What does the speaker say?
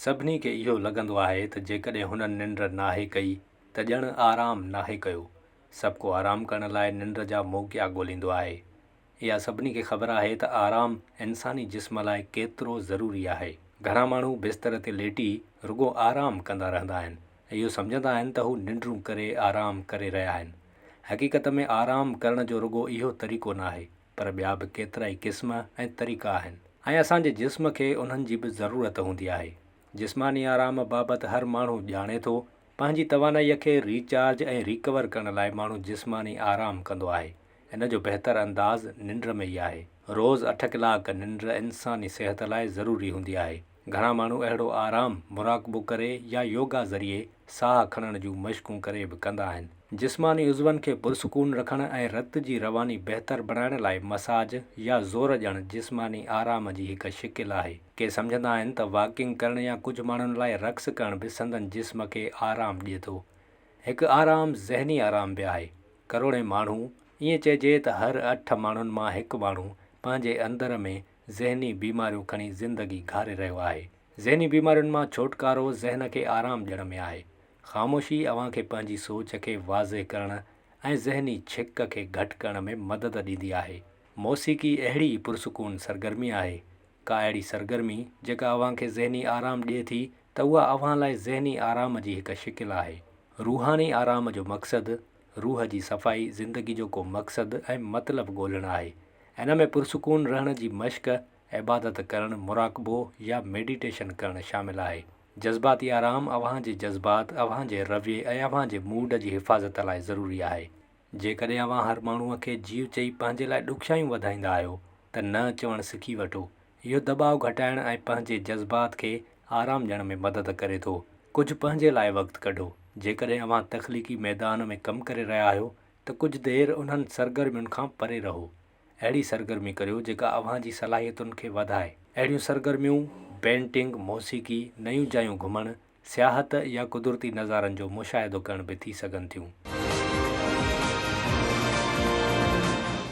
سڀني کي اهو لڳندو آهي ته جيڪڏهن هنن ننڊ ناهي ڪئي ته ڄڻ آرام ناهي ڪيو. سڀ ڪو آرام ڪرڻ لاء ننڊ جا موقعا ڳوليندو آهي. اها سڀني کي خبر آهي ته آرام انساني جسم لاء ڪيترو ضروري آهي. گهڻا ماڻهو بستر تي ليٽي رڳو آرام ڪندا رهندا آهن ۽ اهو سمجهندا آهن ته هو ننڊون ڪري آرام ڪري رهيا آهن. حقيقت ۾ آرام ڪرڻ جو رڳو اهو طريقو ناهي. پر ٻيا به ڪيترائي قسم ۽ طريقا آهن ۽ اسان جي جسم کي انهن جي به ضرورت هوندي آهي. جسماني آرام بابت هر ماڻهو ڄاڻي ٿو. پنهنجي توانائيء کي ري چارج ۽ ريڪور ڪرڻ لاء ماڻهو جسماني آرام ڪندو آهي. ان جو بهتر انداز ننڊ ۾ ئي آهي. روز اٺ ڪلاڪ ننڊ انساني صحت لاء ضروري هوندي آهي. گهڻا ماڻهو اهڙو آرام مراقبو ڪري يا يوگا ذريعي ساهه کڻڻ جون مشقون ڪري به ڪندا آهن. جسماني عضون کي پرسڪون رکڻ ۽ رت جي رواني بهتر بڻائڻ لاء مساج يا زور ڄڻ جسماني آرام جي هڪ شڪل آهي. ڪي سمجهندا آهن ته واڪنگ ڪرڻ يا ڪجهه ماڻهن لاء رقص ڪرڻ به سندن جسم کي آرام ڏئي ٿو. هڪ آرام ذهني آرام به آهي. ڪروڙين ماڻهو، ائين چئجي ته هر اٺ ماڻهن مان هڪ ماڻهو پنهنجي اندر ۾ ذهني بيماريون کڻي زندگي گهاري رهيو آهي. ذهني بيمارين مان ڇوٽڪارو ذهن کي آرام ڏيڻ ۾ آهي. خاموشي اوهان کي پنهنجي سوچ کي واضح ڪرڻ ۽ ذهني ڇڪ کي گهٽ ڪرڻ ۾ مدد ڏيندي آهي. موسيقي اهڙي ئي پرسڪون سرگرمي آهي. ڪا اهڙي سرگرمي جيڪا اوهان کي ذهني آرام ڏئي ٿي ته اها اوهان لاء ذهني آرام جي هڪ شڪل آهي. روحاني آرام جو مقصد، روح جي صفائي، زندگي جو ڪو مقصد ۽ مطلب ڳولهڻ آهي. هن ۾ پرسڪون رهڻ جي مشق، عبادت ڪرڻ، مراقبو يا ميڊيٽيشن ڪرڻ شامل آهي. جذباتي آرام اوهان جي جذبات، اوهان جي رويي ۽ اوهان جي موڊ جي حفاظت لاء ضروري آهي. جيڪڏهن اوهان هر ماڻهوء کي جيو چئي پنهنجي لاء ڏکيائيون وڌائيندا آهيو ته نه چوڻ سکي وٺو. اهو دٻاء گهٽائڻ ۽ پنهنجي جذبات کي آرام ڏيڻ ۾ مدد ڪري ٿو. ڪجهه پنهنجي لاء وقت ڪڍو. جيڪڏهن اوهان تخليقي ميدان ۾ ڪم ڪري رهيا آهيو ته ڪجهه دير انهن سرگرمين کان پري رهو. اهڙي سرگرمي ڪريو جيڪا اوهان جي صلاحيتن کي وڌائي. اهڙيون سرگرميون پينٽنگ، موسيقي، نيون جايون گهمڻ، سياحت يا قدرتي نظارن جو مشاهدو ڪرڻ به ٿي سگهن ٿيون.